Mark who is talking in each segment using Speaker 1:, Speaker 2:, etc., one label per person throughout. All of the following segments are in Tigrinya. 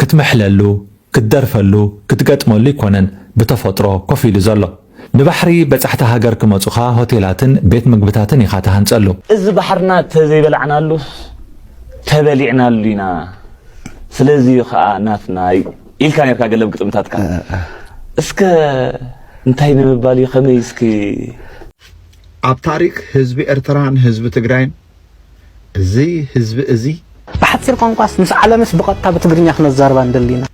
Speaker 1: ክትምሕለሉ፣ ክትደርፈሉ፣ ክትገጥመሉ ኣይኮነን ብተፈጥሮ ኮፍ ኢሉ ዘሎ። ንባሕሪ በጻሕቲ ሃገር ክመጹኻ ሆቴላትን ቤት ምግብታትን ኢኻ ትሃንጸሉ። እዚ ባሕርና
Speaker 2: ተዘይበላዕናሉስ ተበሊዕናሉ ኢና። ስለዚ እዩ ከኣ ናትና ኢልካ ኔርካ ገለ ኣብ ግጥምታትካ። እስከ እንታይ ንምባል እዩ ከመይ እስኪ።
Speaker 3: ኣብ ታሪክ ህዝቢ ኤርትራን ህዝቢ ትግራይን እዚ ህዝቢ እዚ። ብሓጺር ቋንቋስ
Speaker 2: ምስ ዓለምስ ብቐጥታ ብትግርኛ ክነዛርባ ንደሊ ኢና።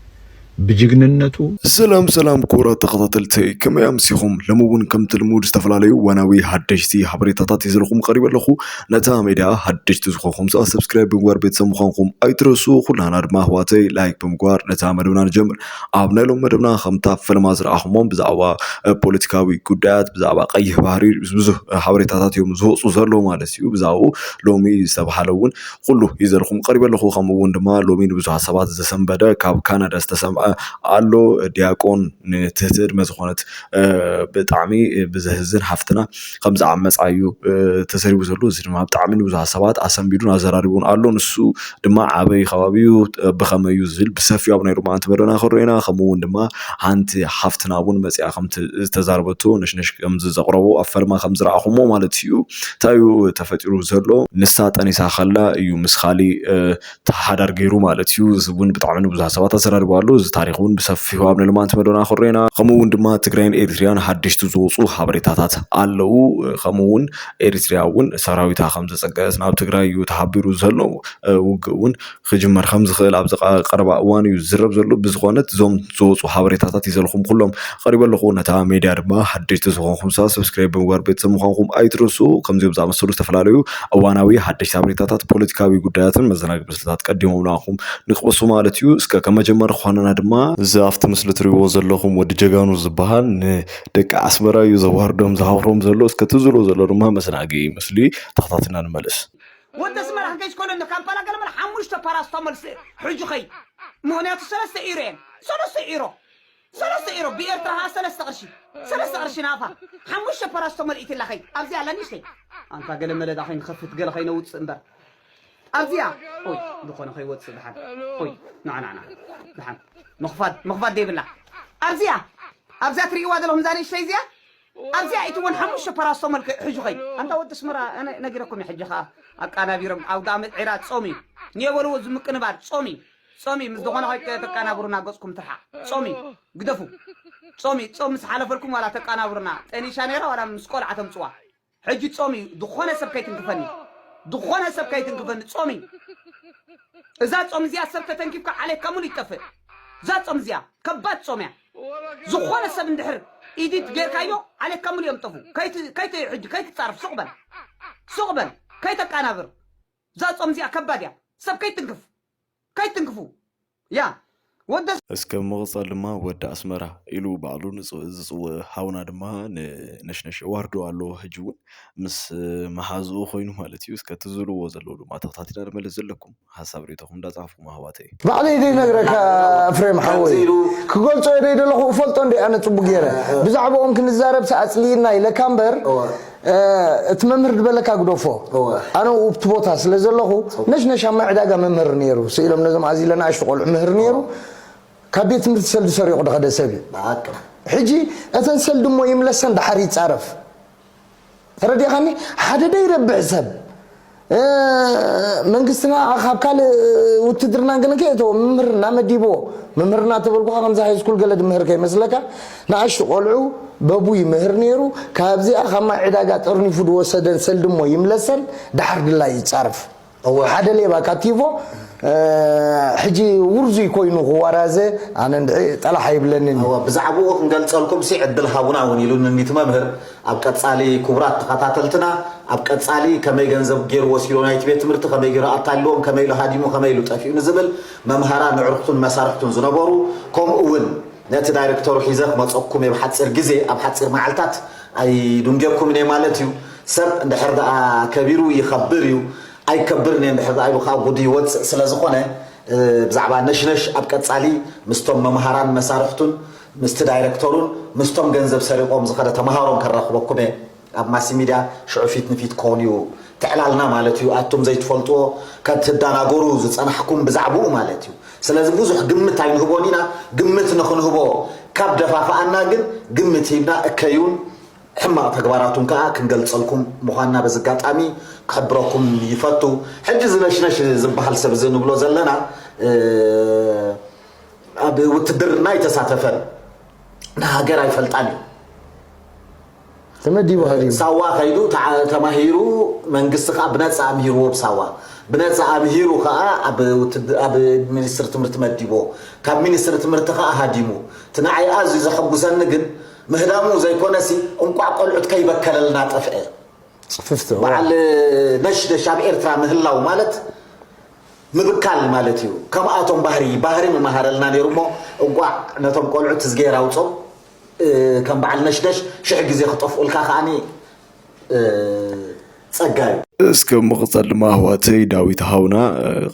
Speaker 2: ብጅግንነቱ።
Speaker 3: ሰላም ሰላም
Speaker 4: ክቡራት ተኸታተልተይ ከመይ ኣምሲኹም ሎሚ ውን ከምቲ ልሙድ ዝተፈላለዩ እዋናዊ ሃደሽቲ ሃበሬታታት ሒዘልኹም ቐሪበ ኣለኹ ነታ ሜድያ ሃደሽቲ ዝኾንኹም ሰኣ ሰብስክራይብ ብምግባር ቤተሰብ ምዃንኹም ኣይትረስኡ ኩላህና ድማ ኣሕዋተይ ላይክ ብምግባር ነታ መደብና ንጀምር ኣብ ናይ ሎም መደብና ከምታ ፍልማ ዝረኣኹሞም ብዛዕባ ፖለቲካዊ ጉዳያት ብዛዕባ ቀይሕ ባህሪ ብዙህ ሓበሬታታት እዮም ዝወፁ ዘለዉ ማለት እዩ ብዛኡ ሎሚ ዝተብሃለ እውን ኩሉ ይዘልኹም ቀሪበ ኣለኹ ከምኡ እውን ድማ ሎሚ ንብዙሃት ሰባት ዘሰንበደ ካብ ካናዳ ዝተሰምዐ ኣሎ ዲያቆን ንትህትድመ ዝኾነት ብጣዕሚ ብዘህዝን ሃፍትና ከም ዝዓመጻ እዩ ተዘሪቡ ዘሎ እዚ ድማ ብጣዕሚ ንብዙሓት ሰባት ኣሰምቢዱን ኣዘራሪቡን ኣሎ ንሱ ድማ ኣበይ ከባቢ እዩ ብኸመይ እዩ ዝብል ብሰፊሑ ኣብ ናይ ሎማዓንቲ መደብና ክንሪኦ ኢና ከምኡ እውን ድማ ሓንቲ ሓፍትና እውን መጺኣ ከም ዝተዛረበቶ ነሽነሽ ከም ዘቕረቦ ኣብ ፈልማ ከም ዝረኣኹሞ ማለት እዩ እንታይ እዩ ተፈጢሩ ዘሎ ንሳ ጠኒሳ ከላ እዩ ምስ ካሊእ ተሓዳር ገይሩ ማለት እዩ እዚ እውን ብጣዕሚ ንብዙሓት ሰባት ኣዘራሪቡ ኣሎ እዚ ታሪክ እውን ብሰፊሑ ኣብ ንልማንት መደና ክሬና ከምኡ እውን ድማ ትግራይን ኤሪትሪያን ሓደሽቲ ዝወፁ ሓበሬታታት ኣለው ከምኡ እውን ኤሪትሪያ እውን ሰራዊታ ከም ዘፀገት ናብ ትግራይ እዩ ተሓቢሩ ዘሎ ውግእ እውን ክጅመር ከም ዝኽእል ኣብዚ ቀረባ እዋን እዩ ዝዝረብ ዘሎ ብዝኾነት እዞም ዝወፁ ሓበሬታታት ይዘልኹም ኩሎም ቀሪበ ኣለኹ ነታ ሜድያ ድማ ሓደሽቲ ዝኾንኩም ሰብስክራይብ ብምግባር ቤተሰብ ምዃንኩም ኣይትረሱ ከምዚኦም ዝኣመሰሉ ዝተፈላለዩ እዋናዊ ሓደሽቲ ሓበሬታታት ፖለቲካዊ ጉዳያትን መዘናግዒ ምስልታት ቀዲሞም ንኣኹም ንክበሱ ማለት እዩ እስከ ከም መጀመሪ ክኾነና ድማ እዚ ኣብቲ ምስሊ ትሪእዎ ዘለኹም ወዲ ጀጋኑ ዝበሃል ንደቂ ኣስመራ እዩ ዘዋርዶም ዝሃውሮም ዘሎ እስከ እቲ ዝብሎ ዘሎ ድማ መዘናግዒ ምስሊ ተኸታቲልና ንመለስ ወዲ ኣስመራ
Speaker 5: ክንደይ ስኮነ ኣሎ ካምፓላ ገለመለ ሓሙሽተ ፓራስታሞል ስእ ሕጂ ከይ ምክንያቱ ሰለስተ ኢሮ እየን ሰለስተ ኢሮ ሰለስተ ኢሮ ብኤርትራ ከኣ ሰለስተ ቅርሺ ሰለስተ ቅርሺ ናቕፋ ሓሙሽተ ፓራስቶ መልኢትላ ከይድ ኣብዚ ኣላ ንእሽተይ ኣንታ ገለ መለዳ ከይንኸፍት ገለ ከይነውጽእ እምበር ኣብዚኣ ኦይ ዝኾነ ከይወጽእ ድሓን ኦይ ናዕናዕና ድሓን ምኽፋት ምኽፋት ዘይብላ ኣብዚኣ ኣብዛ ትርእይዋ ዘለኹም እዛ ንእሽተይ እዚኣ ኣብዚኣ እቲ እውን ሓሙሽተ ፓራስቶ መልክ ሕዡ ከይድ ኣንታ ወዲ ኣስመራ ኣነ ነጊረኩም ሕጂ ከኣ ኣቃናቢሮም ኣብ ጋመት ዒራ ጾም እዩ ንየበልዎ ዝምቅንባር ጾም እዩ ጾም እዩ ምስ ዝኾነ ከይቀ ተቃናብሩና ገጽኩም ትርሓቅ ጾም እዩ ግደፉ ጾም እዩ ጾም ምስ ሓለፈልኩም ዋላ ተቃናብሩና ጠኒሻ ነይራ ዋላ ምስ ቆልዓ ተምጽዋ ሕጂ ጾም እዩ ዝኾነ ሰብ ከይትንክፈኒ ዝኾነ ሰብ ከይትንክፈኒ ጾም እዩ እዛ ጾም እዚኣ ሰብ ተተንኪፍካ ዓሌትካ ሙሉ ይጠፍእ እዛ ጾም እዚኣ ከባድ ጾም እያ ዝኾነ ሰብ እንድሕር ኢዲት ጌርካዮ ዓሌትካ ሙሉ እዮም ጠፉ ከይት ከይት ሕጂ ከይትጻርፍ ሱቅ በል ሱቅ በል ከይተቃናብር እዛ ጾም እዚኣ ከባድ እያ ሰብ ከይትንክፍ ከይትንክፉ ያ ወደ እስከ ብምቕጻል
Speaker 4: ድማ ወዲ ኣስመራ ኢሉ ባዕሉ ዝጽውእ ሃውና ድማ ንነሽነሽ ዋርዶ ኣሎ ሕጂ እውን ምስ መሓዝኡ ኮይኑ ማለት እዩ እስከ ትዝልዎ ዘለዉ ድማ ተኸታቲና ንመለስ ዘለኩም ሓሳብ ርኢቶኹም እንዳጻሓፍኩም ኣሕዋተይ ባዕለይ
Speaker 6: ዘይነግረካ እፍሬም ሓወይ ክገልጾ እየ ደይደለኹ እፈልጦ እንድየ ኣነ ጽቡቅ ጌረ ብዛዕብኦም ክንዛረብሲ ኣጽሊኢና ኢለካ እምበር እቲ መምህር ድበለካ ግደፎ ኣነ ኡብቲ ቦታ ስለ ዘለኹ ነሽነሽ ኣብ ማይ ዕዳጋ መምህር ነይሩ ስኢሎም ነዞም ኣዚለ ናእሽቱ ቆልዑ ምህር ነይሩ ካብ ቤት ትምህርቲ ሰልዲ ሰሪቑ ድኸደ ሰብ እዩ ሕጂ እተን ሰልዲ እሞ ይምለሰን ድሓር ይጻረፍ ተረዲእኻኒ ሓደ ደይረብሕ ሰብ መንግስትና ካብ ካልእ ውትድርናን ገለን ከየእተዎ ምምህርና መዲብዎ ምምህርና ተበልኩኻ ከምዚ ሃይስኩል ገለ ድምህር ከይመስለካ ንኣሽቱ ቆልዑ በቡ ይምህር ነይሩ ካብዚኣ ካብ ማይ ዕዳጋ ጠርኒፉ ድወሰደን ሰልድሞ ይምለሰን ደሓር ድላይ ይጻርፍ እወ ሓደ ሌባ ካብ ቲቮ ሕጂ ውርዙይ ኮይኑ ክዋራዘ ኣነ እንድዒ ጠላሕ ኣይብለንን እዩ። እወ ብዛዕብኡ
Speaker 7: ክንገልጸልኩምሲ ዕድል ሃቡና እውን ኢሉንኒ እቲ መምህር። ኣብ ቀጻሊ ክቡራት ተኸታተልትና ኣብ ቀጻሊ ከመይ ገንዘብ ጌሩ ወሲዶ ናይቲ ቤት ትምህርቲ ከመይ ጌሩ ኣታሊልዎም ከመይ ኢሉ ሃዲሙ ከመይ ኢሉ ጠፊኡ ንዝብል መምሃራን ንዕርክቱን መሳርሕቱን ዝነበሩ ከምኡ እውን ነቲ ዳይረክተሩ ሒዘ ክመጸኩምየ ብሓጺር ግዜ ኣብ ሓጺር መዓልታት ኣይዱንጌኩምን እየ ማለት እዩ። ሰብ እንድሕር ደኣ ከቢሩ ይኸብር እዩ ኣይከብርን እየ እንድሕር ደኣ ኢሉ ከኣ ጉዱ ይወጽእ ስለ ዝኾነ ብዛዕባ ነሽነሽ ኣብ ቀጻሊ ምስቶም መምሃራን መሳርሕቱን ምስቲ ዳይረክተሩን ምስቶም ገንዘብ ሰሪቖም ዝኸደ ተምሃሮን ከራኽበኩም እየ ኣብ ማሲሚድያ ሽዑ ፊት ንፊት ክኾን እዩ ትዕላልና ማለት እዩ ኣቱም ዘይትፈልጥዎ ከትዳናጎሩ ዝጸናሕኩም ብዛዕብኡ ማለት እዩ ስለዚ ብዙሕ ግምት ኣይንህቦን ኢና ግምት ንኽንህቦ ካብ ደፋፍኣና ግን ግምት ሂብና እከዩን ሕማቕ ተግባራቱን ከኣ ክንገልጸልኩም ምዃንና በዚ ኣጋጣሚ ክሕብረኩም ይፈቱ። ሕጂ እዚ ነሽነሽ ዝበሃል ሰብ እዚ ንብሎ ዘለና ኣብ ውትድርና ኣይተሳተፈን፣ ንሃገር ኣይፈልጣን እዩ።
Speaker 6: ተመዲቡ ሃዲሙ ሳዋ ከይዱ ተዓ-
Speaker 7: ተማሂሩ መንግስቲ ከኣ ብነጻ ኣምሂርዎ ብ ሳዋ ብነጻ ኣምሂሩ ከኣ ኣብ ውትድ- ኣብ ሚኒስትሪ ትምህርቲ መዲብዎ ካብ ሚኒስትሪ ትምህርቲ ከኣ ሃዲሙ እቲ ንዓይ ኣዝዩ ዘሐጉሰኒ ግን ምህዳሙ ዘይኮነሲ እንቋዕ ቆልዑት ከይበከለልና ጠፍኤ ጽፍፍቲ እዋይ።
Speaker 6: በዓል
Speaker 7: ነሽነሽ ኣብ ኤርትራ ምህላው ማለት ምብካል ማለት እዩ ከምኣቶም ባህሪ ባህሪ ምመሃረልና ነይሩ እሞ እንቋዕ ነቶም ቆልዑት እዝግሄር ኣውጾም እ፣ ከም በዓል ነሽነሽ ሽሕ ግዜ ክጠፍኡልካ ከኣ ጸጋ እዩ። እስከ ምቕጸል
Speaker 4: ድማ ኣሕዋተይ ዳዊት ሃውና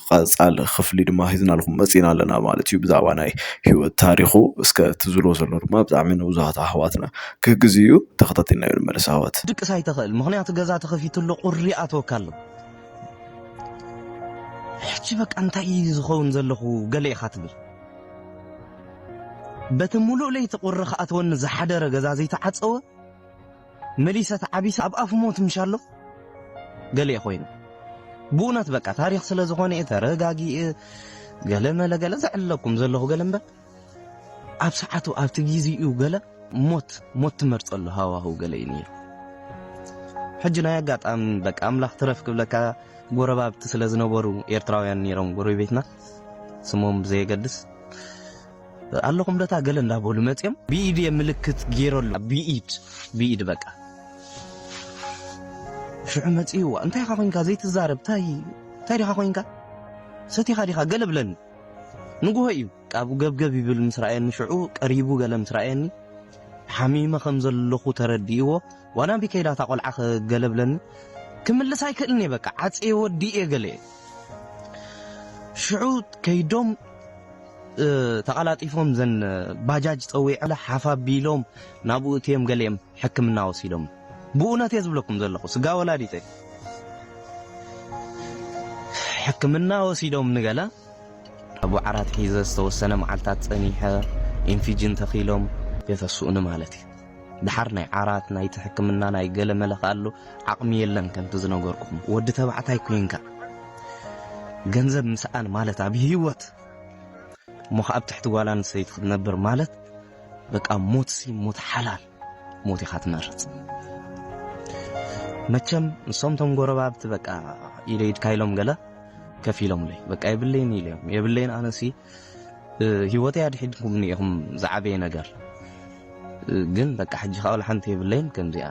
Speaker 4: ቐጻሊ ክፍሊ ድማ ሒዝናልኩም መጺና ኣለና ማለት እዩ ብዛዕባ ናይ ህይወት ታሪኹ እስከ ትዝሎ ዘሎ ድማ ብጣዕሚ ንብዙሃት ኣሕዋትና ክህግዝ እዩ ተኸታቲልናዮ ንመለስ ኣሕዋት። ክትድቅስ ኣይተኽእል ምኽንያቱ
Speaker 8: ገዛ ተኸፊቱ ኣሎ ቁሪ ይኣትወካ ኣሎ ሕጂ በቃ እንታይ እዩ ዝኸውን ዘለኹ ገለ ኢኻ ትብል በቲ ሙሉእ ለይቲ ቁሪ ክኣትወኒ ዝሓደረ ገዛ ዘይተዓጸወ መሊሰ ተዓቢሰ ኣብ ኣፍ ሞት ምሻሎ ገሌ ኮይኑ ብኡነት በቃ ታሪኽ ስለ ዝኾነ እየ ተረጋጊእ ገለ መለ ገለ ዘዕለኩም ዘለኹ ገለ እምበር ኣብ ሰዓቱ ኣብቲ ግዜኡ ገለ ሞት ሞት ትመርጸሉ ሃዋህው ገለ እዩ ነይሩ ሕጂ ናይ ኣጋጣሚ በቃ ኣምላኽ ትረፍ ክብለካ ጎረባብቲ ስለ ዝነበሩ ኤርትራውያን ነይሮም ጎረቤትና ስሞም ብዘየገድስ ኣለኹም ደታ ገለ እንዳበሉ መፅኦም ብኢድ እየ ምልክት ገይረሉ ብኢድ ብኢድ በቃ ሽዑ መፅእዋ እንታይ ኢኻ ኮንካ ዘይትዛረብ ታይ እንታይ ዲኻ ኮንካ ሰቲኻ ዲኻ ገለ ብለኒ ንጉሆ እዩ ቃብ ገብገብ ይብል ምስ ረኣየኒ ሽዑ ቀሪቡ ገለ ምስ ረኣየኒ ሓሚመ ከም ዘለኹ ተረዲእዎ ዋላ ቢ ከይዳ እታ ቆልዓ ገለ ብለኒ ክምልስ ኣይክእልን እየ በቃ ዓፀየ ወዲእ እየ ገለ እየ ሽዑ ከይዶም ተቐላጢፎም ዘን ባጃጅ ጸዊዐለ ሓፍ ኣቢሎም ናብኡ እትዮም ገሊኦም ሕክምና ወሲዶም ብኡነት እየ ዝብለኩም ዘለኹ ስጋ ወላዲተይ ሕክምና ወሲዶም ንገለ ኣቡ ዓራት ሒዘ ዝተወሰነ መዓልታት ጸኒሐ ኢንፊጅን ተኺሎም የተስኡኒ ማለት እዩ ድሓር ናይ ዓራት ናይቲ ሕክምና ናይ ገለ መለኽ ኣሎ ዓቕሚ የለን ከምቲ ዝነገርኩም ወዲ ተባዕታይ ኮይንካ ገንዘብ ምስኣን ማለት ኣብ ህይወት እሞ ከኣ ኣብ ትሕቲ ጓል ኣንስተይቲ ክትነብር ማለት በቃ ሞትሲ ሞት ሓላል ሞት ኢኻ ትመርጽ። መቸም ንሶም ቶም ጎረባብቲ በቃ ኢለ ኢድካ ኢሎም ገለ ከፍ ኢሎምለይ በቃ የብለይን ኢሎም የብለይን ኣነሲ ህይወተይ ኣድሒድኩምኒ ኢኹም ዝዓበየ ነገር ግን በቃ ሕጂ ከኣ ሓንቲ የብለይን ከምዚኣ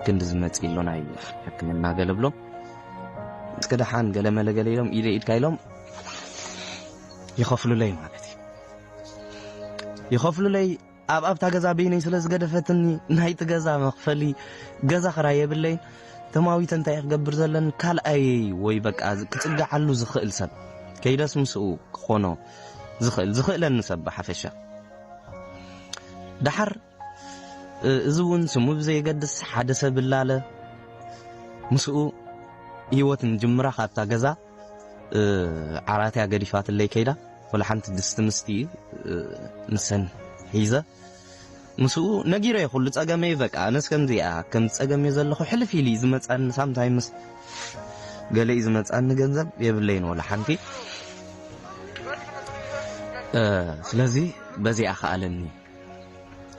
Speaker 8: ክንዲ ዝመጽእ ኢሎ ናይ ሕክምና ገለ ብሎ እስከ ደሓን ገለ መለ ገለ ኢሎም ኢደ ኢድካ ኢሎም ይኸፍሉለይ ማለት እዩ ይኸፍሉለይ ኣብ ኣብታ ገዛ በይነይ ስለ ዝገደፈትኒ ናይቲ ገዛ መኽፈሊ ገዛ ክራይ የብለይ ተማዊተ እንታይ ክገብር ዘለኒ ካልኣይ ወይ በቃ ክጽግዓሉ ዝኽእል ሰብ ከይደስ ምስኡ ክኾኖ ዝኽእል ዝኽእለኒ ሰብ ብሓፈሻ ደሓር እዚ እውን ስሙ ብዘየገድስ ሓደ ሰብ እላለ ምስኡ ህይወት ንጅምራ ካብታ ገዛ ዓራት እያ ገዲፋትለይ ከይዳ ወላ ሓንቲ ድስቲ ምስቲ ንሰን ሒዘ ምስኡ ነጊረ ኩሉ ጸገመይ በቃ ኣነስ ከምዚ እያ ከም ጸገም እየ ዘለኹ ሕልፍ ኢሉ ዝመጻኒ ሳምታይምስ ገለ እዩ ዝመጻኒ ገንዘብ የብለይን ወላ ሓንቲ ስለዚ በዚኣ ከኣለኒ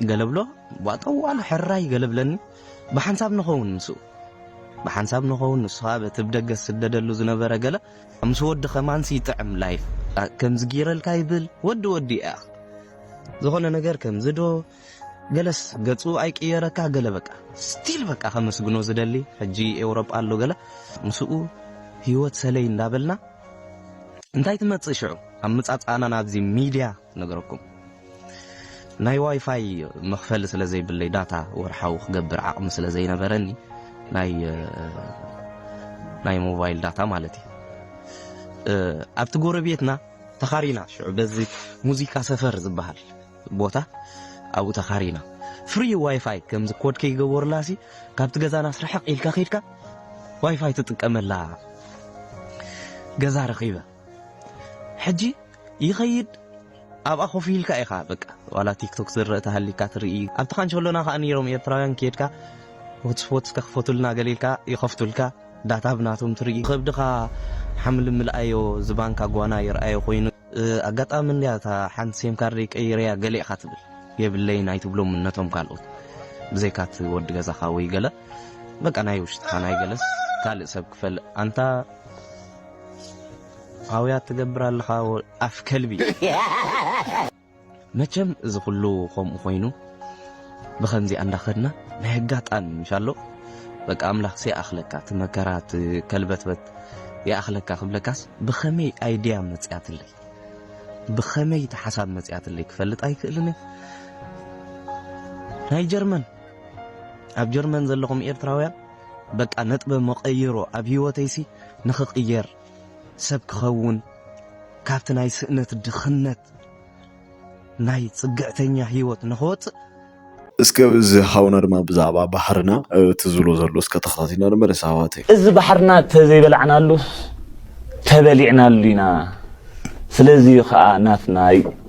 Speaker 8: ገለብሎ ቧጠዋሉ ሕራይ ገለብለኒ ብሓንሳብ ንኸውን ምስኡ ብሓንሳብ ንኸውን ንሱ ኸኣ በቲ ብደገ ዝስደደሉ ዝነበረ ገለ ምስ ወዲ ኸማንሲ ይጥዕም ላይፍ ከምዚ ጌረልካ ይብል ወዲ ወዲ እያ ዝኾነ ነገር ከምዚ ዶ ገለስ ገጹ ኣይቅየረካ ገለ በቃ ስቲል በቃ ከመስግኖ ዝደሊ ሕጂ ኤውሮጳ ኣሎ ገለ ምስኡ ህይወት ሰለይ እንዳበልና እንታይ ትመጽእ ሽዑ ኣብ ምጻጻእና ናብዚ ሚድያ ነገረኩም ናይ ዋይፋይ መኽፈሊ ስለ ዘይብለይ ዳታ ወርሓዊ ክገብር ዓቕሚ ስለ ዘይነበረኒ ናይ ሞባይል ዳታ ማለት እዩ ኣብቲ ጎረቤትና ተኻሪና ሽዑ በዚ ሙዚቃ ሰፈር ዝበሃል ቦታ ኣብኡ ተኻሪና ፍሪ ዋይፋይ ከምዚ ኮድ ከይገበሩላ ሲ ካብቲ ገዛና ስርሕቕ ኢልካ ከድካ ዋይፋይ ትጥቀመላ ገዛ ረኺበ ሕጂ ይኸይድ ኣብኣ ኮፍ ኢልካ ኢኻ በቃ ዋላ ቲክቶክ ዝረእ ተሃሊካ ትርኢ ኣብቲ ካንቸሎና ከኣ ነይሮም ኤርትራውያን ኬድካ ሆትስፖት ከኽፈቱልና ገሊልካ ይኸፍቱልካ ዳታ ብናቶም ትርኢ ከብድኻ ሓምሊ ምልኣዮ ዝባንካ ጓና ይርኣዮ ኮይኑ ኣጋጣሚ እንድያ እታ ሓንቲ ሴም ካርደይ ቀይረያ ገለ ኢኻ ትብል የብለይን ኣይትብሎም ነቶም ካልኦት ብዘይካ እቲ ወዲ ገዛኻ ወይ ገለ በቃ ናይ ውሽጥኻ ናይ ገለስ ካልእ ሰብ ክፈልእ ኣንታ ኣውያት ትገብር ኣለኻ ኣፍ ከልቢ። መቸም እዚ ኩሉ ከምኡ ኮይኑ ብከምዚኣ እንዳኸድና ናይ ኣጋጣሚ ምሻሎ በቃ ኣምላኽሲ ይኣኽለካ እቲ መከራ እቲ ከልበትበት ይኣኽለካ ክብለካስ ብኸመይ ኣይድያ መፅያትለይ ብኸመይ እቲ ሓሳብ መፅያትለይ ክፈልጥ ኣይክእልን ናይ ጀርመን ኣብ ጀርመን ዘለኹም ኤርትራውያን በቃ ነጥበ መቐይሮ ኣብ ህይወተይሲ ንኽቕየር፣ ሰብ ክኸውን፣ ካብቲ ናይ ስእነት ድኽነት ናይ ጽግዕተኛ ህይወት ንኽወጽእ፣ እስከ
Speaker 4: እዚ ሓውና ድማ ብዛዕባ ባሕርና እቲ ዝብሎ ዘሎ እስከ ተኸታቲልና ንመለስ ኣሕዋተይ። እዚ ባሕርና
Speaker 9: ተዘይበላዕናሉስ ተበሊዕናሉ ኢና ስለዚ እዩ ከኣ ናትና እዩ።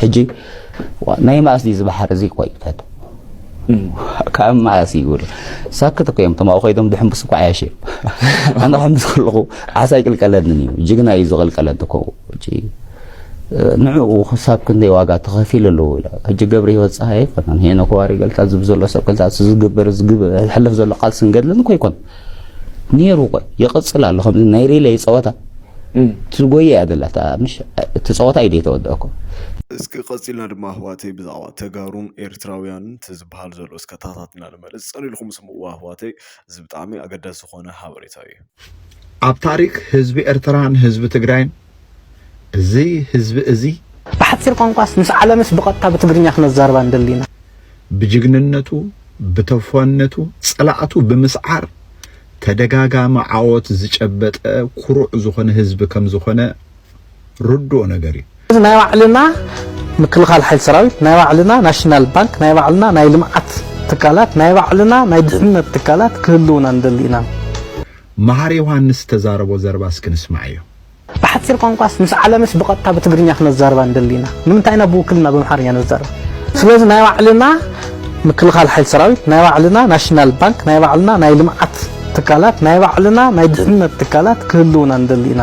Speaker 10: ሕጂ ናይ መኣስ ድዩ ዝባሓር እዚ ቆይ ፈት ካብ መኣስ እዩ ይብል ሳክት እኮ እዮም ተማኡ ኮይዶም ድሕምብስ እኮ ዓያሽ እዮም ኣነ ሕምብስ ከለኹ ዓሳ ኣይቅልቀለንን እዩ ጅግና እዩ ዝቕልቀለን እኮ ሕጂ ንዕኡ ክሳብ ክንደይ ዋጋ ተኸፊሉ ኣለዎ ኢላ ሕጂ ገብረ ህይወት ፀሃይ ኣይኮነን ሄኖክ ዋሪ ገልታ ዝብ ዘሎ ሰብ ገልታ ዝግበር ዝግብ ሕልፍ ዘሎ ቃልስን ገድልን እኮ ኣይኮነን ነይሩ ቆይ ይቕጽል ኣሎ ከምዚ ናይ ሪለይ ጸወታ ትጎየ እያ ዘላ ምሽ እቲ ጸወታ እዩ ዘይተወድኦ እኮ እስኪ
Speaker 4: ቀፂልና ድማ ኣህዋተይ ብዛዕባ ተጋሩን ኤርትራውያንን እቲ ዝበሃል ዘሎ እስከ ታታትና ንመለስ ፀኒልኩም ስምዕዋ ኣህዋተይ እዚ ብጣዕሚ ኣገዳሲ ዝኾነ ሃበሬታ እዩ ኣብ
Speaker 3: ታሪክ ህዝቢ ኤርትራን ህዝቢ ትግራይን እዚ ህዝቢ እዚ። ብሓጺር ቋንቋስ
Speaker 2: ምስ ዓለምስ ብቐጥታ ብትግርኛ ክነዛርባ ንደሊ ኢና። ብጅግንነቱ
Speaker 3: ብተፏነቱ ጸላእቱ ብምስዓር ተደጋጋሚ ዓወት ዝጨበጠ ኩሩዕ ዝኾነ ህዝቢ ከም ዝኾነ ርዱእ ነገር እዩ። እዚ ናይ ባዕልና
Speaker 2: ምክልኻል ሓይሊ ሰራዊት፣ ናይ ባዕልና ናሽናል ባንክ፣ ናይ ባዕልና ናይ ልምዓት ትካላት፣ ናይ ባዕልና ናይ ድሕነት ትካላት ክህልውና ንደሊ ኢና። መሃሪ
Speaker 3: ዮሃንስ ዝተዛረቦ ዘረባ እስኪ ንስማዓዮ። ብሓጺር
Speaker 2: ቋንቋስ ምስ ዓለምስ ብቐጥታ ብትግርኛ ክነዛርባ ንደሊ ኢና። ንምንታይ ኢና ብውክልና በምሓርኛ ንዛረብ? ስለዚ ናይ ባዕልና ምክልኻል ሓይሊ ሰራዊት፣ ናይ ባዕልና ናሽናል ባንክ፣ ናይ ባዕልና ናይ ልምዓት ትካላት፣ ናይ ባዕልና ናይ ድሕነት ትካላት ክህልውና ንደሊ ኢና።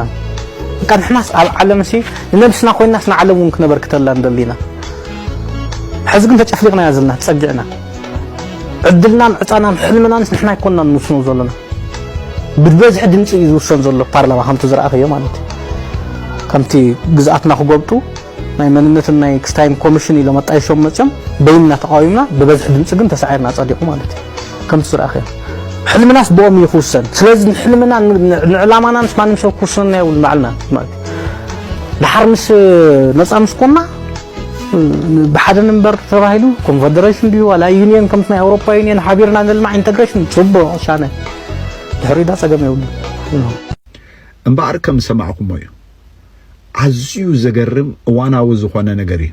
Speaker 2: በቃ ንሕናስ ኣብ ዓለምሲ ንነብስና ኮይንናስ ንዓለም እውን ክነበርክተላ ንደሊ ኢና። ሕዚ ግን ተጨፍሊቕና ኢና ዘለና፣ ተጸጊዕና። ዕድልናን ዕጣናን ሕልምናንስ ንሕና ኣይኮናን ንውስኖ ዘለና። ብበዝሒ ድምፂ እዩ ዝውሰን ዘሎ ፓርላማ ከምቲ ዝረኣኸዮ ማለት እዩ ከምቲ ግዝኣትና ክጎብጡ ናይ መንነትን ናይ ክስታይን ኮሚሽን ኢሎም ኣጣይሾም መፅዮም በይንና ተቃዊምና ብበዝሒ ድምፂ ግን ተሳዒርና ፀዲቑ ማለት እዩ ከምቲ ዝረኣኸዮ ሕልምናስ ብኦም እዩ ክውሰን ስለዚ ንሕልምና ንዕላማና ምስ ማንም ሰብ ክውስነና የብሉ ባዕልና ማለት እዩ ድሓር ምስ ነፃ ምስ ኮና ብሓደ ንበር ተባሂሉ ኮንፈደሬሽን ድዩ ዋላ ዩኒየን ከምቲ ናይ ኣውሮፓ ዩኒየን ሓቢርና ንልማዕ ኢንተግሬሽን ፅቡቕ ሻነ ድሕሪ ዳ ፀገም የብሉ
Speaker 3: እምበኣር ከም ዝሰማዕኩሞ እዩ ኣዝዩ ዘገርም እዋናዊ ዝኾነ ነገር እዩ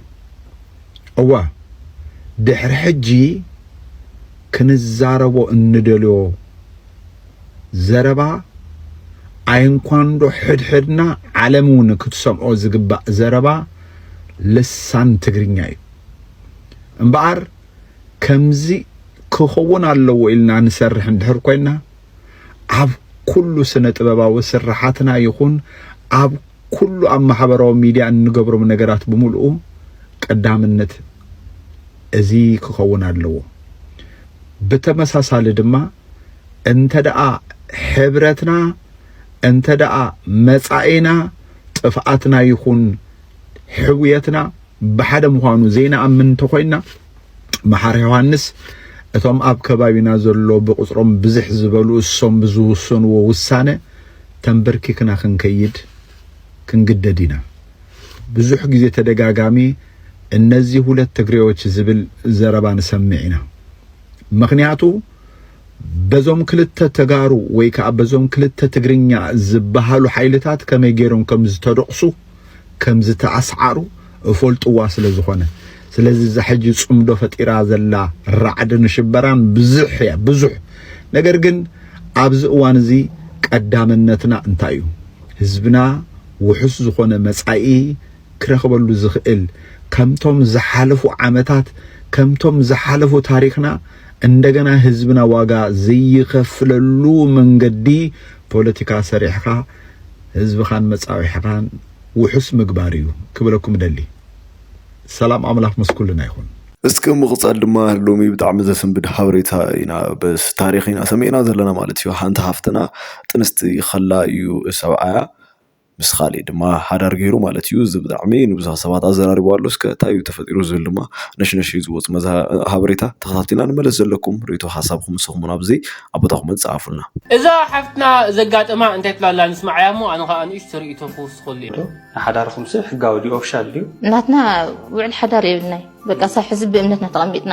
Speaker 3: እወ ድሕሪ ሕጂ ክንዛረቦ እንደልዮ ዘረባ ኣይንኳንዶ ሕድሕድና ዓለም እውን ክትሰምዖ ዝግባእ ዘረባ ልሳን ትግርኛ እዩ እምበኣር ከምዚ ክኸውን ኣለዎ ኢልና ንሰርሕ እንድሕር ኮይና ኣብ ኩሉ ስነ ጥበባዊ ስራሓትና ይኹን ኣብ ኩሉ ኣብ ማሕበራዊ ሚድያ እንገብሮም ነገራት ብምልኡ ቀዳምነት እዚ ክኸውን ኣለዎ ብተመሳሳሊ ድማ እንተ ደኣ ሕብረትና እንተ ደኣ መጻኢና ጥፍኣትና ይኹን ሕውየትና ብሓደ ምዃኑ ዘይንኣምን እንተኾይንና መሓር ዮሃንስ እቶም ኣብ ከባቢና ዘሎ ብቕጽሮም ብዝሕ ዝበሉ እሶም ብዝውሰንዎ ውሳነ ተንበርኪክና ክንከይድ ክንግደድ ኢና። ብዙሕ ግዜ ተደጋጋሚ እነዚህ ሁለት ትግሬዎች ዝብል ዘረባ ንሰምዕ ኢና። ምኽንያቱ በዞም ክልተ ተጋሩ ወይ ከኣ በዞም ክልተ ትግርኛ ዝበሃሉ ሓይልታት ከመይ ገይሮም ከም ዝተደቑሱ፣ ከም ዝተኣስዓሩ እፈልጥዋ ስለ ዝኾነ። ስለዚ እዛ ሕጂ ጽምዶ ፈጢራ ዘላ ራዕዲ ንሽበራን ብዙሕ እያ ብዙሕ። ነገር ግን ኣብዚ እዋን እዚ ቀዳምነትና እንታይ እዩ? ህዝብና ውሑስ ዝኾነ መጻኢ ክረኽበሉ ዝኽእል ከምቶም ዝሓለፉ ዓመታት ከምቶም ዝሓለፉ ታሪኽና እንደገና ህዝብና ዋጋ ዘይኸፍለሉ መንገዲ ፖለቲካ ሰሪሕኻ ህዝብኻን መጻውዒሕኻን ውሑስ ምግባር እዩ ክብለኩም እደሊ። ሰላም ኣምላኽ ምስ ኩልና ይኹን። እስኪ ብምቕጻል
Speaker 4: ድማ ሎሚ ብጣዕሚ ዘሰንብድ ሓበሬታ ኢና በስ ታሪኽ ኢና ሰሚዕና ዘለና ማለት እዩ። ሓንቲ ሃፍትና ጥንስቲ ከላ እዩ ሰብዓያ ምስ ኻሊእ ድማ ሓዳር ገይሩ ማለት እዩ። እዚ ብጣዕሚ ንብዙሓት ሰባት ኣዘራሪቡ ኣሎ። እስከ እንታይ እዩ ተፈጢሩ ዝብል ድማ ነሽነሽ እዩ ዝወጽእ መዝ ሓበሬታ ተኸታቲልና ንመለስ። ዘለኩም ርእይቶ ሓሳብኩም ንስኹም ውን ኣብዚ ኣብ ቦታ ኮመንት ጸሓፉልና። እዛ ሓፍትና
Speaker 11: ዘጋጠማ እንታይ ትብላ ኣላ ንስማዓያ እሞ ኣነ ከኣ ንእሽቶ ርእይቶ ክውስኸሉ እየ። ንሓዳርኹም ስብ
Speaker 12: ሕጋዊ ድዩ ኦፍሻል ድዩ? ናትና
Speaker 13: ውዕል ሓዳር የብልናይ በቃ ሳብ ሕዚ ብእምነትና ተቀሚጥና።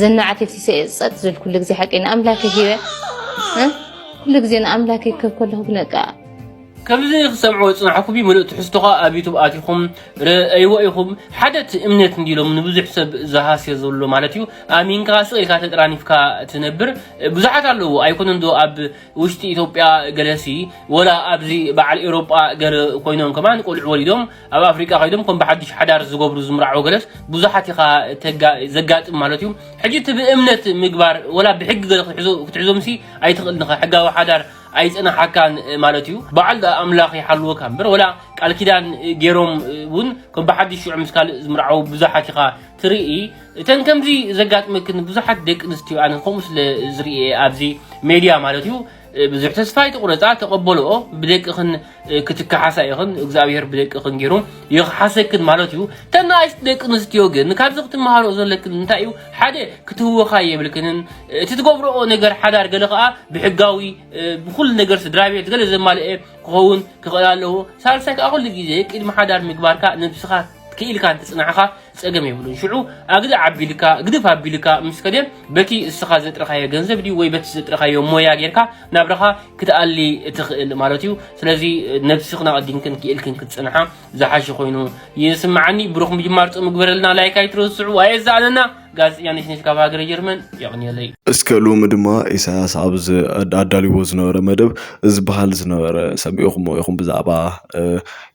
Speaker 12: ዘናዓት ኢልሲ ጸጥ ዝብል ኩሉ ግዜ ሓቂ ንኣምላክ ሂበ ኩሉ ግዜ ንኣምላክ ይከብ ከለኹ ግነቃ ከምዚ
Speaker 11: ክሰምዑ ዝጽናሕኩ ብ ምሉእ ትሕዝቶኻ ኣብ ዩቱብ ኣቲኹም ርእይዎ ኢኹም ሓደ እቲ እምነት እንዲሎም ንብዙሕ ሰብ ዝሃስዮ ዘሎ ማለት እዩ ኣሚንካ ስቕ ኢልካ ተጠራኒፍካ ትነብር ብዙሓት ኣለዉ ኣይኮነን ዶ ኣብ ውሽጢ ኢትዮጵያ ገለሲ ወላ ኣብዚ በዓል ኤውሮጳ ገለ ኮይኖም ከማን ቆልዑ ወሊዶም ኣብ ኣፍሪቃ ከይዶም ከም ብሓድሽ ሓዳር ዝገብሩ ዝምርዓው ገለስ ብዙሓት ኢኻ ዘጋጥም ማለት እዩ ሕጂ እቲ ብእምነት ምግባር ወላ ብሕጊ ገለ ክትሕዞምሲ ኣይትኽእልን ኢኻ ሕጋዊ ሓዳር ኣይጽናሓካን ማለት እዩ በዓል ዳኣ ኣምላኽ ይሓልወካ እምበር ወላ ቃል ኪዳን ገይሮም እውን ከም ብሓድሽ ሽዑ ምስ ካልእ ዝምርዓው ብዙሓት ኢኻ ትርኢ እተን ከምዚ ዘጋጥመክን ብዙሓት ደቂ ኣንስትዮ ኣነ ከምኡ ስለ ዝርኤ ኣብዚ ሜድያ ማለት እዩ ብዙሕ ተስፋ ኣይትቑረፃ ተቐበልኦ ብደቅኽን ክትከሓሳ ኢኽን እግዚኣብሔር ብደቅኽን ገይሩ ይኽሓሰክን ማለት እዩ ተናእሽቲ ደቂ ኣንስትዮ ግን ካብዚ ክትመሃርኦ ዘለክን እንታይ እዩ ሓደ ክትህወኻ የብልክንን እቲ ትገብርኦ ነገር ሓዳር ገለ ከዓ ብሕጋዊ ብኩሉ ነገር ስድራ ቤት ገለ ዘማልአ ክኸውን ክኽእል ኣለዎ ሳልሳይ ከዓ ኩሉ ግዜ ቅድሚ ሓዳር ምግባርካ ነብስኻ ክኢልካ እንትፅናዕኻ ጸገም የብሉን ሽዑ ኣግዲ ዓቢልካ ግድፍ ኣቢልካ ምስ ከደ በቲ እስኻ ዘጥረኻዮ ገንዘብ ድዩ ወይ በቲ ዘጥረኻዮ ሞያ ጌርካ ናብራኻ ክትኣሊ ትኽእል ማለት እዩ ስለዚ ነብስኽን ኣቐዲምክን ክኢልክን ክትጽንሓ ዝሓሸ ኮይኑ ይስምዓኒ ብሩኽ ምጅማር ጾም ግበረልና ላይክ ኣይትረስዑ ኣየዛኣለና ጋዜጠኛ ነሽነሽ ካብ ሃገረ ጀርመን የቕንየለይ እስከ ሎሚ
Speaker 4: ድማ ኢሳያስ ኣብ ኣዳልዎ ዝነበረ መደብ ዝበሃል ዝነበረ ሰሚዕኹሞ ኢኹም ብዛዕባ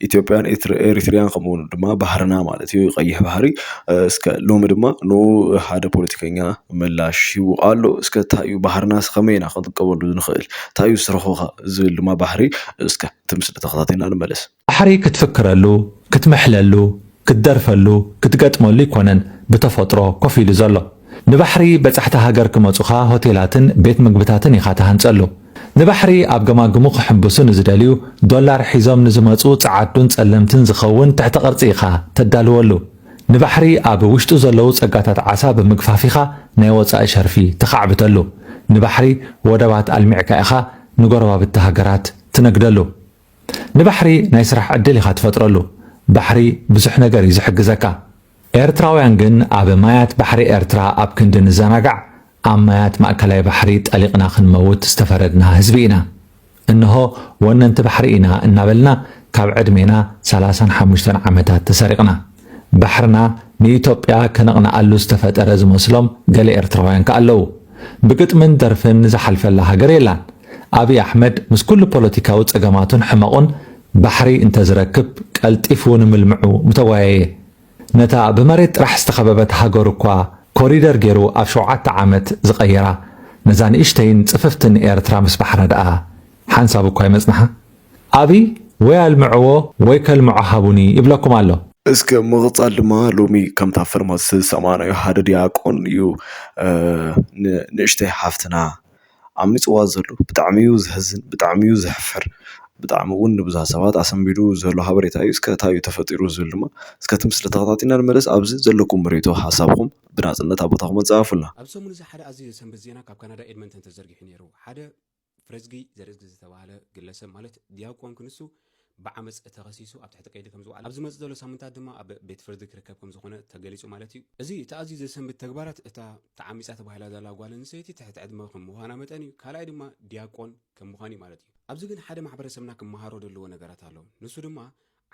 Speaker 4: ኢትዮጵያን ኤሪትርያን ከምኡውን ድማ ባህርና ማለት እዩ ቀይሕ ባህሪ እስከ ሎሚ ድማ ን ሓደ ፖለቲከኛ ምላሽ ሂቡ ኣሎ እስከ እንታይ እዩ ባህርና ከመይ ኢና ክንጥቀመሉ ንኽእል እንታይ እዩ ስርሑኻ ዝብል ድማ ባህሪ እስከ እቲ ምስሊ ተኸታቲልና ንመለስ። ባሕሪ ክትፍክረሉ
Speaker 1: ክትምሕለሉ ክትደርፈሉ ክትገጥመሉ ኣይኮነን ብተፈጥሮ ኮፍ ኢሉ ዘሎ። ንባሕሪ በጻሕቲ ሃገር ክመጹኻ ሆቴላትን ቤት ምግብታትን ኢኻ ትሃንጸሉ። ንባሕሪ ኣብ ገማግሙ ክሕንብሱ ንዝደልዩ ዶላር ሒዞም ንዝመጹ ጸዓዱን ጸለምትን ዝኸውን ትሕተ ቅርጺ ኢኻ ተዳልወሉ። ንባሕሪ ኣብ ውሽጡ ዘለዉ ጸጋታት ዓሳ ብምግፋፍ ኢኻ ናይ ወጻኢ ሸርፊ ተኻዕብተሉ። ንባሕሪ ወደባት ኣልሚዕካ ኢኻ ንጎረባብቲ ሃገራት ትነግደሉ። ንባሕሪ ናይ ስራሕ ዕድል ኢኻ ትፈጥረሉ ባሕሪ ብዙሕ ነገር እዩ ዝሕግዘካ ኤርትራውያን ግን ኣብ ማያት ባሕሪ ኤርትራ ኣብ ክንዲ ንዘናጋዕ ኣብ ማያት ማእከላይ ባሕሪ ጠሊቕና ክንመውት ዝተፈረድና ህዝቢ ኢና እንሆ ወነንቲ ባሕሪ ኢና እናበልና ካብ ዕድሜና ሰላሳን ሓሙሽተን ዓመታት ተሰሪቕና ባሕርና ንኢትዮጵያ ከነቕንኣሉ ዝተፈጠረ ዝመስሎም ገለ ኤርትራውያን ከኣ ኣለዉ። ብግጥምን ደርፍን ዝሓልፈላ ሃገር የላን። ኣብይ ኣሕመድ ምስ ኩሉ ፖለቲካዊ ጸገማቱን ሕመቑን ባሕሪ እንተዝረክብ ቀልጢፉ ንምልምዑ ምተጓየየ። ነታ ብመሬት ጥራሕ ዝተኸበበት ሃገሩ እኳ ኮሪደር ጌሩ ኣብ ሸውዓተ ዓመት ዝቐየራ ነዛ ንእሽተይን ጽፍፍትን ኤርትራ ምስ ባሕራ ደኣ ሓንሳብ እኳ ኣይመጽንሓ ኣብይ ወይ ኣልምዕዎ ወይ ከልምዖ ሃቡኒ ይብለኩም ኣሎ። እስከ ምቕጻል
Speaker 4: ድማ ሎሚ ከምታ ፍልም ዝሰማዕናዮ ሓደ ድያቆን እዩ ንንእሽተይ ሓፍትና ዓሚጽዋ ዘሎ ብጣዕሚ እዩ ዘሕዝን ብጣዕሚ እዩ ዘሕፍር ብጣዕሚ ውን ንብዙሕ ሰባት ኣሰንቢዱ ዘሎ ሓበሬታ እዩ እስከ ታይ እዩ ተፈጢሩ ዝብል ድማ እስከ እቲ ምስሊ ተኸታቲልና ንመለስ ኣብዚ ዘለኩም ርኢቶ ሓሳብኩም ብናጽነት ኣብ ቦታኹም ኣጻርፉልና። ኣብ ሰሙን እዚ ሓደ ኣዝዩ
Speaker 14: ዘሰንብድ ዜና ካብ ካናዳ ኤድመንተን ተዘርጊሑ ነይሩ። ሓደ። ፍረዝጊ ዘርእዝጊ ዝተባህለ ግለሰብ ማለት ዲያቆን ክንሱ ብዓመጽ ተኸሲሱ ኣብ ትሕቲ ቀይዲ ከምዝወዓለ ኣብ ዝመጽእ ዘሎ ሳምንታት ድማ ኣብ ቤት ፍርዲ ክርከብ ከምዝኾነ ተገሊጹ ማለት እዩ። እዚ እቲ ኣዝዩ ዘሰንብድ ተግባራት እታ ተዓሚጻ ተባሂላ ዘላ ጓል ኣንስተይቲ ትሕቲ ዕድመ ከም ምዃና መጠን እዩ። ካልኣይ ድማ ዲያቆን ከም ምዃኑ እዩ ማለት እዩ። ኣብዚ ግን ሓደ ማሕበረሰብና ክመሃሮ ዘለዎ ነገራት ኣሎ። ንሱ ድማ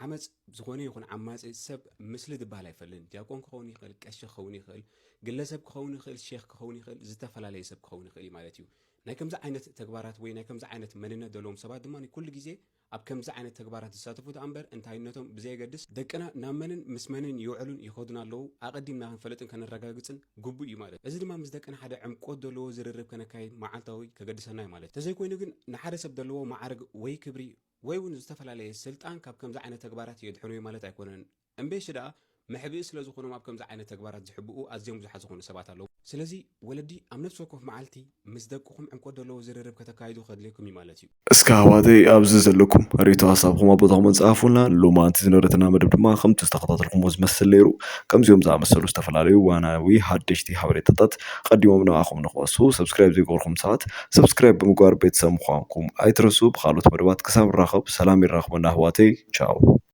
Speaker 14: ዓመጽ ዝኾነ ይኹን ዓማጺ ሰብ ምስሊ ድባሃል ኣይፈልን ዲያቆን ክኸውን ይኽእል ቀሺ ክኸውን ይኽእል ግለሰብ ክኸውን ይኽእል ሼክ ክኸውን ይኽእል ዝተፈላለየ ሰብ ክኸውን ይኽእል እዩ ማለት እዩ ናይ ከምዚ ዓይነት ተግባራት ወይ ናይ ከምዚ ዓይነት መንነት ዘለዎም ሰባት ድማ ኩሉ ግዜ ኣብ ከምዚ ዓይነት ተግባራት ዝሳተፉ ደኣ እምበር እንታይነቶም ብዘየገድስ ደቅና ናብ መንን ምስ መንን ይውዕሉን ይኸዱን ኣለዉ ኣቐዲምና ክንፈልጥን ከነረጋግጽን ግቡእ እዩ ማለት እዚ ድማ ምስ ደቅና ሓደ ዕምቆት ዘለዎ ዝርርብ ከነካይድ መዓልታዊ ከገድሰና እዩ ማለት ተዘይኮይኑ ግን ንሓደ ሰብ ዘለዎ መዓርግ ወይ ክብሪ ወይ ውን ዝተፈላለየ ስልጣን ካብ ከምዚ ዓይነት ተግባራት የድሕኑዮ ማለት ኣይኮነን። እምበይ'ሺ ደኣ መሕብኢ ስለ ዝኾኖም ኣብ ከምዚ ዓይነት ተግባራት ዝሕብኡ ኣዝዮም ብዙሓት ዝኾኑ ሰባት ኣለዉ። ስለዚ ወለዲ ኣብ ነፍሲ ወከፍ መዓልቲ ምስ ደቅኹም ዕምቆት ደለዎ ዝርርብ ከተካይዱ ከድልየኩም እዩ ማለት እዩ። እስከ ኣሕዋተይ
Speaker 4: ኣብዚ ዘለኩም ሪኢቶ ሓሳብኹም ኣብ ቦታ ኮመንት ጸሓፉልና። ሎማንቲ ዝነበረትና መደብ ድማ ከምቲ ዝተኸታተልኩሞ ዝመስል ነይሩ። ከምዚኦም ዝኣመሰሉ ዝተፈላለዩ እዋናዊ ሓደሽቲ ሓበሬታታት ቀዲሞም ንዓኹም ንኽበጽሑ፣ Subscribe ዘይገበርኩም ሰባት፣ ሰብስክራይብ ብምግባር ቤተሰብ ምኳንኩም ኣይትረስኡ ብካልኦት መደባት ክሳብ ንራከብ ሰላም የራክበና ኣሕዋተይ ቻው።